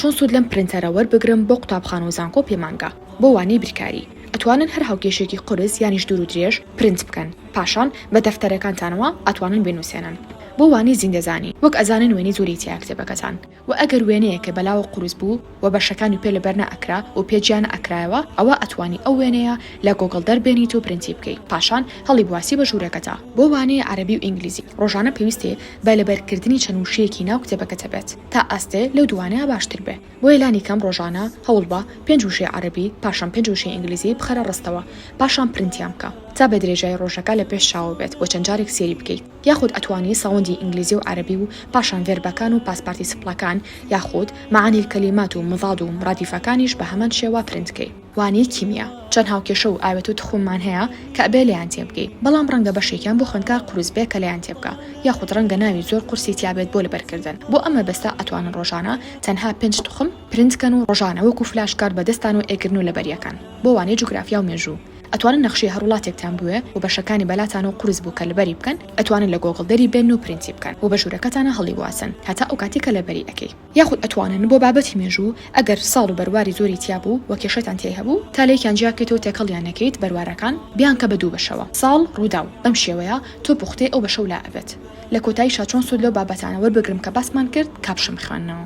چۆن سود لەم پرنتەرە وەربگرم بۆ قوتابخانەو زانکۆ پێمانگا بۆ وانەی بیرکاری ئەتوانن هەر هاوکێشێکی قورس یانیش دوورو درێژ پرنت بکەن پاشان بە دەفتەرەکانتانەوە ئەتوانن بێنوسێنن بۆ وانەی زیندەزانی وەک ئەزانن وێنەی زۆری تیایە کتێبەکەتان وە ئەگەر وێنەیەکە بەلاوە قورس بوو وە بەشەکانی پێ لەبەر نەئەکرا و پێ جیا نەئەکرایەوە ئەوا ئەتوانی ئەو وێنەیە لە گۆگڵ دەربێنیت و پرنتی بکەی پاشان هەڵی بواسی بە ژورەکەتا. بۆ وانەی عەرەبی و ئینگلیزی ڕۆژانە پێویستێ بە لەبەرکردنی چەند وشەیەکی ناو کتێبەکەتە بێت. تا ئاستێ لەو دووانەیا باشتر بێ. بۆیە لانی کەم ڕۆژانە هەوڵ بە، پێنج وشەی عەرەبی، پاشان پێنج وشەی ئینگلیزی بخەرە ڕستەوە، پاشان پرنتیان بکە. تا بە درێژایی ڕۆژەکە لە پێش چاوە بێت و چەند جارێک سێری بکەیت. یاخود ئەتوانی ساوندی ئینگلیزی و عەرەبی و پاشان ڤێربەکان و پاست پارتیسپڵەکان یاخود، معانی الکلیمات، و مضاد و مرادیفەکانیش بە هەمان شێوە پرنت کەی. وانەی کیمیا، چەند هاوکێشە و ئاوێتە و تخوممان هەیە کە ئەبێ لێیان تێبگەی، بەڵام ڕەنگە بەشێکیان بۆ خوێندکار قورس بێ کە لێیان تێبگا، یاخود ڕەنگە ناوی زۆر قورسی تیا بێت بۆ لەبەرکردن، بۆ ئەم مەبەستە ئەتوانن ڕۆژانە تەنها پێنج تخم پرنت کەن و ڕۆژانە وەکو فلاش کارد بەدەستانەوە ئەیگرن و لەبەری ئەکەن، بۆ وانەی جوگرافیا و مێژوو ئەتوانن نەخشەی هەر وڵاتێکتان بوێ و بەشەکانی بەلاتانەوە قورس بوو کە لەبەری بکەن ئەتوانن لە گۆگڵ دەری بێنن و پرنتی بکەن و بە ژوورەکەتانا هەڵیواسن هەتا ئەو کاتی کە لەبەری ئەکەی. یاخود ئەتوانن بۆ بابەتی مێژوو ئەگەر ساڵ و بەرواری زۆری تیا بوو و کێشەتان تیای هەبوو تا لێکیان جیا بکەیتەوە تێکەڵیان نەکەیت بەروارەکان بیانکە بە دوو بەشەوە ساڵ ڕووداو بەم شێوەیە تۆ پوختەی ئەو بەشەو لا ئەبێت لە کۆتایشا چۆن سوود لەو بابەتانە وەربگرم کە باسمان کرد کاپشەم خوێندنەوە.